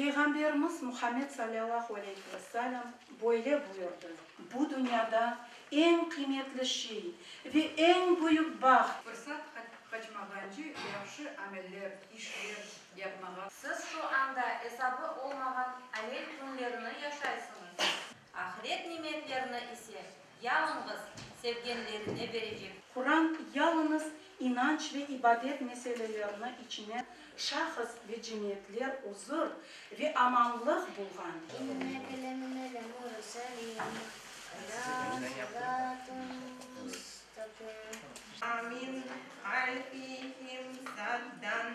Peyğamberimiz Muhammed salâllahu aleyhi ve sâlem böyle buyurdı, Bu dünyada eñ qıymetli şey ve eñ büyük baht, Fırsat qaçmağancı yahşı ameller, işler, yapmağa. Siz şu anda esabı olmağan amel künlerini yaşaysıñız. Ahiret nimetlerini ise yalıñız sevgenlerine berecek. Quran yalıñız inanç ve ibadet meselelerini içine şahıs ve cemiyetler uzur ve amanlıq bulğan. İnne kelemine lemurselin ala sıratun mustaqim. Amin aleyhim saldan.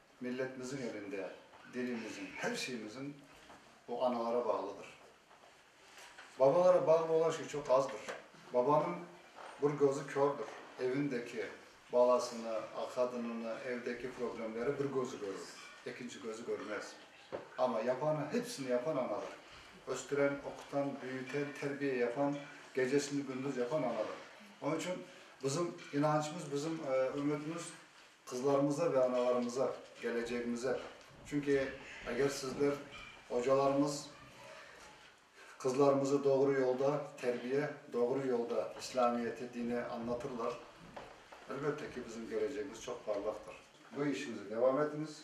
Milletmizin elinde dilimizin, her şeyimizin o analara bağlıdır. Babalara bağlı olan şey çoq azdır. Babanıñ bir gözü kördir, evindeki balasını, qadınını, evdeki problemleri bir gözü körür, ekinci gözü körmez. Amma yapanı, hepsini yapan anadır. Östüren, oqutan, büyüten, terbiye yapan, gecesini gündüz yapan anadır. Onıñ içün bizim inancımız, bizim ümitimiz Qızlarımıza ve analarımıza, gelecegimize. Çünki eger sizler, ocalarımız, qızlarımızı doğru yolda terbiye, doğru yolda İslamiyeti, dini añlatırlar, elbette ki, bizim gelecegimiz çoq parlaqtır. Bu işinizi devam etiñiz.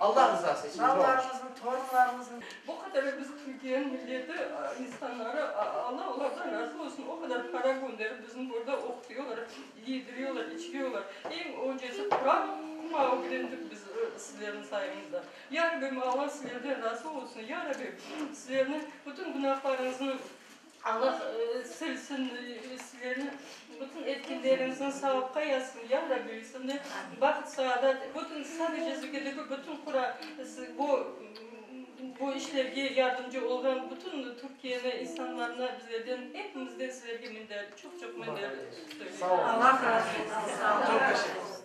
Allah rızası içün. Balalarımızın, torunlarımızın. Bu kadar biz Türkiye'nin milleti, insanları, Allah onlardan razı olsun, o kadar para gönderip bizim burada oqutuyorlar, yediriyorlar, içiriyorlar. Eñ öncesi Quran kuma ögrendik biz sizlerniñ sayıñızda. Ya Rabbim, Allah sizlerden razı olsun, Ya Rabbim, sizlerniñ bütün günahlarıñıznı Allah silsin sizlerni bütün etkenleriñizni savapqa yazsın ya Rabbi üstünde baht saadat bütün sadece Zükideki bütün qura bu bu işlerge yardımcı olğan bütün Türkiyeni insanlarına bizlerden hepimizden sizlerge minnet çoq çoq minnet söyleymiz.